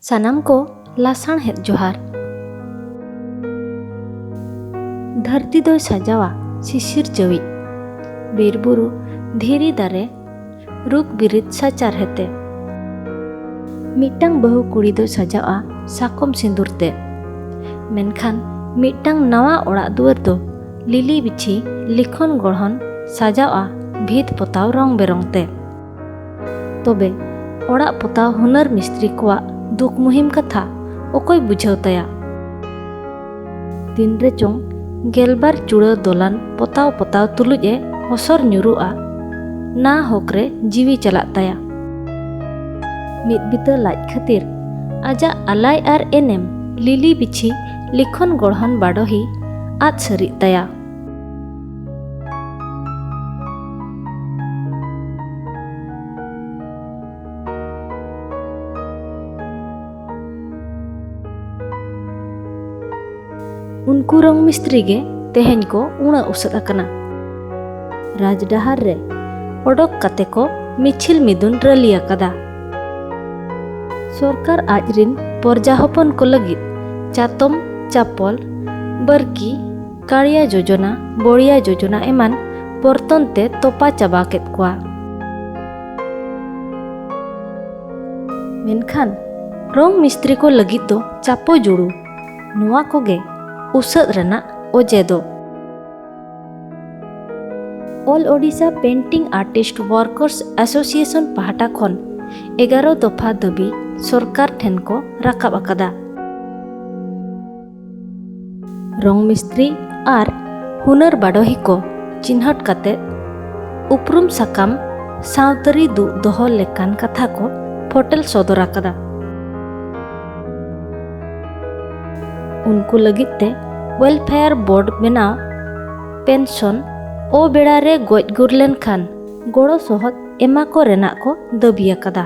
ᱥᱟᱱᱟᱢ ᱠᱚ ᱞᱟᱥᱟᱬᱦᱮᱫ ᱡᱚᱦᱟᱨ᱾ ᱫᱷᱟᱹᱨᱛᱤ ᱫᱚᱭ ᱥᱟᱡᱟᱣᱟ ᱥᱤᱥᱤᱨᱡᱟᱹᱣᱤᱡ᱾ ᱵᱤᱨ ᱵᱩᱨᱩ ᱫᱷᱤᱨᱤ ᱫᱟᱨᱮ ᱨᱩᱯ ᱵᱤᱨᱤᱫ ᱥᱟᱪᱟᱨᱦᱮᱛᱮ᱾ ᱢᱤᱫᱴᱟᱝ ᱵᱟᱹᱦᱩ ᱠᱩᱲᱤ ᱫᱚᱭ ᱥᱟᱡᱟᱣᱜᱼᱟ ᱥᱟᱠᱚᱢ ᱥᱤᱸᱫᱩᱨ ᱛᱮ᱾ ᱢᱮᱱᱠᱷᱟᱱ ᱢᱤᱫᱴᱟᱝ ᱱᱟᱣᱟ ᱚᱲᱟᱜ ᱫᱩᱣᱟᱹᱨ ᱫᱚ ᱞᱤᱞᱤ ᱵᱤᱪᱷᱤ ᱞᱤᱠᱷᱚᱱ ᱜᱚᱲᱦᱚᱱ ᱥᱟᱡᱟᱣᱜᱼᱟ ᱵᱷᱤᱛ ᱯᱚᱛᱟᱣ ᱨᱚᱝ ᱵᱮᱨᱚᱝ ᱛᱮ᱾ ᱛᱚᱵᱮ ᱚᱲᱟᱜ ᱯᱚᱛᱟᱣ ᱦᱩᱱᱟᱹᱨ ᱢᱤᱥᱛᱨᱤ ᱠᱚᱣᱟᱜ ᱫᱩᱠ ᱢᱩᱦᱤᱢ ᱠᱟᱛᱷᱟ ᱚᱠᱚᱭ ᱵᱩᱡᱷᱟᱹᱣ ᱛᱟᱭᱟ ᱛᱤᱱ ᱨᱮ ᱪᱚᱝ ᱜᱮᱞᱵᱟᱨ ᱪᱩᱲᱟᱹ ᱫᱚᱞᱟᱱ ᱯᱚᱛᱟᱣ ᱯᱚᱛᱟᱣ ᱛᱩᱞᱩᱡ ᱮ ᱦᱚᱥᱚᱨ ᱧᱩᱨᱩᱜᱼᱟ ᱱᱟ ᱦᱚᱠ ᱨᱮ ᱡᱤᱣᱤ ᱪᱟᱞᱟᱜ ᱛᱟᱭᱟ ᱢᱤᱫ ᱵᱤᱛᱟᱹ ᱞᱟᱡ ᱠᱷᱟᱹᱛᱤᱨ ᱟᱡᱟᱜ ᱟᱞᱟᱭ ᱟᱨ ᱮᱱᱮᱢ ᱞᱤᱞᱤ ᱵᱤᱪᱷᱤ ᱞᱤᱠᱷᱚᱱ ᱜᱚᱲᱦᱚᱱ ᱵᱟᱰᱚᱦᱤ ᱟᱫ ᱥᱟᱹᱨᱤᱜ ᱛᱟᱭᱟ ᱩᱱᱠᱩ ᱨᱚᱝ ᱢᱤᱥᱛᱨᱤ ᱜᱮ ᱛᱮᱦᱮᱧ ᱠᱚ ᱩᱬᱟᱹ ᱩᱥᱟᱹᱫ ᱟᱠᱟᱱᱟ ᱨᱟᱡᱽ ᱰᱟᱦᱟᱨ ᱨᱮ ᱚᱰᱚᱠ ᱠᱟᱛᱮ ᱠᱚ ᱢᱤᱪᱷᱤᱞ ᱢᱤᱫᱩᱱ ᱨᱟᱹᱞᱤ ᱟᱠᱟᱫᱟ ᱥᱚᱨᱠᱟᱨ ᱟᱡ ᱨᱤᱱ ᱯᱚᱨᱡᱟ ᱦᱚᱯᱚᱱ ᱠᱚ ᱞᱟᱹᱜᱤᱫ ᱪᱟᱛᱚᱢ ᱪᱟᱯᱚᱞ ᱵᱟᱹᱨᱠᱤ ᱠᱟᱲᱤᱭᱟ ᱡᱳᱡᱚᱱᱟ ᱵᱚᱲᱤᱭᱟ ᱡᱳᱡᱚᱱᱟ ᱮᱢᱟᱱ ᱯᱚᱨᱛᱚᱱ ᱛᱮ ᱛᱚᱯᱟ ᱪᱟᱵᱟ ᱠᱮᱫ ᱠᱚᱣᱟ ᱢᱮᱱᱠᱷᱟᱱ ᱨᱚᱝ ᱢᱤᱥᱛᱨᱤ ᱠᱚ ᱞᱟᱹᱜᱤᱫ ᱫᱚ ᱪᱟᱯᱚ ᱡᱩᱲᱩ ᱱᱚᱣᱟ ᱠᱚᱜᱮ ᱩᱥᱟᱹᱫ ᱨᱮᱱᱟᱜ ᱚᱡᱮ ᱫᱚ ᱚᱞ Odisha painting artist workers association ᱯᱟᱦᱴᱟ ᱠᱷᱚᱱ ᱮᱜᱟᱨᱚ ᱫᱚᱯᱷᱟ ᱫᱟᱹᱵᱤ ᱥᱚᱨᱠᱟᱨ ᱴᱷᱮᱱ ᱠᱚ ᱨᱟᱠᱟᱵ ᱟᱠᱟᱫᱟ ᱨᱚᱝ ᱢᱤᱥᱛᱨᱤ ᱟᱨ ᱦᱩᱱᱟᱹᱨ ᱵᱟᱰᱚᱦᱤ ᱠᱚ ᱪᱤᱱᱦᱟᱹᱴ ᱠᱟᱛᱮ ᱩᱯᱨᱩᱢ ᱥᱟᱠᱟᱢ ᱥᱟᱶᱛᱟᱹᱨᱤ ᱫᱩᱜ ᱫᱚᱦᱚ ᱞᱮᱠᱟᱱ ᱠᱟᱛᱷᱟ ᱠᱚ ᱯᱷᱚᱴᱮᱞ ᱥᱚᱫᱚᱨ ᱟᱠᱟᱫᱟ ᱩᱱᱠᱩ ᱞᱟᱹᱜᱤᱫ ᱛᱮ ᱣᱮᱞᱯᱷᱮᱭᱟᱨ ᱵᱳᱨᱰ ᱵᱮᱱᱟᱣ ᱯᱮᱱᱥᱚᱱ ᱚ ᱵᱮᱲᱟ ᱨᱮ ᱜᱚᱡ ᱜᱩᱨ ᱞᱮᱱᱠᱷᱟᱱ ᱜᱚᱲᱚ ᱥᱚᱦᱚᱫ ᱮᱢᱟ ᱠᱚ ᱨᱮᱱᱟᱜ ᱠᱚ ᱫᱟᱹᱵᱤ ᱟᱠᱟᱫᱟ